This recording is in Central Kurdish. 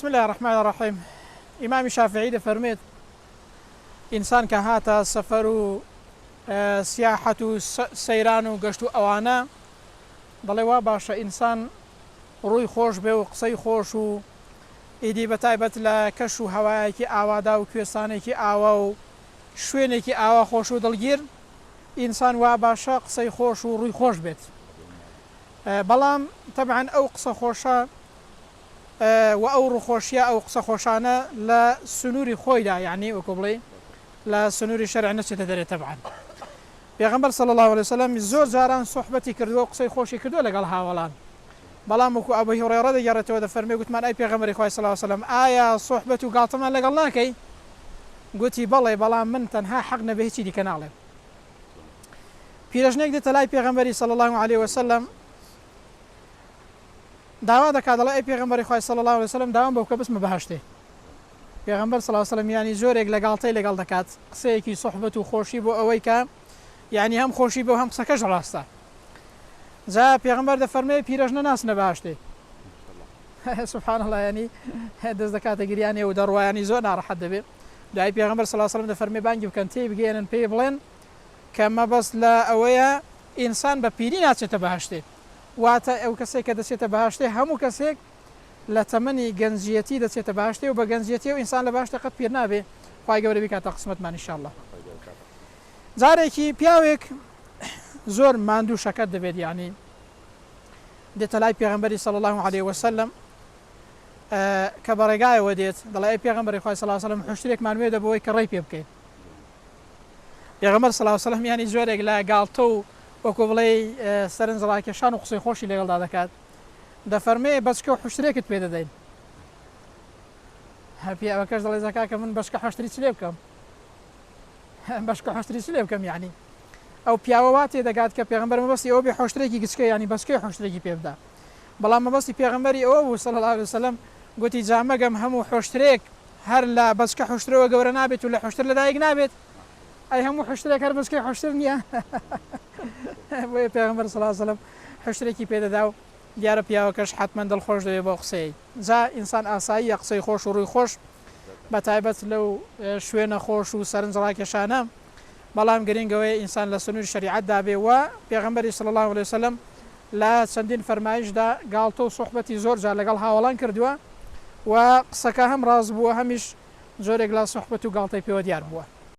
بسم اللە الرحمن الرحیم ئیمامی شافعی دەفەرموێت ئینسان کە هاتە سەفەر و سیاحەت و سەیران و گەشت و ئەوانە دەڵێ وا باشە ئینسان ڕووی خۆش بێ و قسەی خۆش و ئیدی بە تایبەت لە کەش و هەوایەکی ئاوادا و کوێستانێکی ئاوا و شوێنێکی ئاوا خۆش و دڵگیر ئینسان وا باشە قسەی خۆش و ڕووی خۆش بێت بەڵام تەبعەن ئەو قسە خۆشە وە ئەو ڕووخۆشیە ئەو قسە خۆشانە لە سنوری خۆیدا یەعنی وەکو بڵێی لە سنوری شەرع نەچێتە دەرێ تەبعەن پێغەمبەر صلی اللە علیە وسلم زۆر جاران سوحبەتی کردووە و قسەی خۆشی کردووە لەگەڵ هاوەڵان بەڵام وەکو ئەبو هوڕێڕە دەگێڕێتەوە دەفەرمێ گوتمان ئەی پێغەمبەری خوای صلی اللە علیە وسلم ئایا سوحبەت و گاڵتەمان لەگەڵ ناکەی گوتی بەڵێ بەڵام من تەنها حەق نەبێ هیچی دیکە ناڵێم پیرەژنێک دێتە لای پێغەمبەری صلی اللە علیە وسلم داوا دەکات دەڵێ ئەی پێغەمبەری خوای صلی اللە علیە وسلم داوام بەوکە بچمە بەهەشتێ پێغەمبەر صلی اللە علیە وسلم یانی جۆرێک لە گاڵتەی لەگەڵ دەکات قسەیەکی صحبەت و خۆشی بۆ ئەوەی کە یانی هەم خۆشی بۆ هەم قسەکەش ڕاستە جا پێغەمبەر دەفەرمێ پیرەژنە ناسنە باشتێ سبحان الله ینی دەست دەکاتە گریانێ و دەڕوایانی زۆر ناڕەحەت دەبێ دوای پێغمبەر سللا سلم دە فەرمی بانگی بکەن تێی بگەێنن پێی بڵێن کە مەبەست لە ئەوەیە ئینسان بە پیری ناچێتە بەهشتێ واتە ئەو کەسەی کە دەچێتە بەهەشتێ هەموو کەسێک لە تەمەنی گەنجیەتی دەچێتە بەهەشتێ و بە گەنجیەتیەوە ئینسان لە بەهەشتێ قەت پیر نابێ خوای گەورە بیکاتە قسمەتمان ان شاءاللە جارێکی پیاوێک زۆر ماندوو شەکەت دەبێت یعنی دێتە لای پێغمبەری صلی الله عليه وسلم کە بەڕێگایەوە دێت دەڵێ پێغمبەری خوای صلی الله عليه وسلم حشتێکمان وێ دەبەوەی کە ڕێی پێ بکەیت پێغەمبەر سڵاو وسەلام یانی جۆرێک لە گاڵتە و وەکو بڵێی سەرنج ڕاکێشان و قسەی خۆشی لەگەڵدا دەکات دەفەرمێ بەچکە و حشترێکت پێ دەدەین هەپی ئەوەکەش دەڵێ زەکا کە من بەشکە حشتری چ لێ بکەم بەشکە حشتری چ لێ بکەم یعنی ئەو پیاوە وا تێ دەگات کە پێغمبەر مەبەستی ئەو بێ حشتێکی گچکە ینی بەچکەی حشتێکی پێبدا بەڵام مەبەستی پێغمبەری ئەوە بوو سەڵ وسلم گوتی جامەگەم هەموو حشترێک هەر لە بەچکە حوشترەوە گەورە نابێت و لە حوشتر لەدایک نابێت ئەی هەموو حوشترێک هەر بەچکەی حوشتر نییە بۆیە پێغەمبەر صلی الله علیه و سلم حوشترێکی پێدەدا و دیارە پیاوەکەش حتمەن دڵخۆش دەبێت بەو قسەی جا ئینسان ئاساییە قسەی خۆش و ڕووی خۆش بە تایبەت لەو شوێنە خۆش و سەرنجڕاکێشانە بەڵام گرینگ ئەوەیە ئینسان لە سنوری شەریعەتدا بێ و پێغەمبەری صلی اللە علیە وسلم لە چەندین فەرمایشدا گاڵتە و سوحبەتی زۆر جار لەگەڵ هاوەڵان کردووە و قسەکە هەم ڕاست بووە هەمیش جۆرێک لە سوحبەت و گاڵتەی پێوە دیار بووە.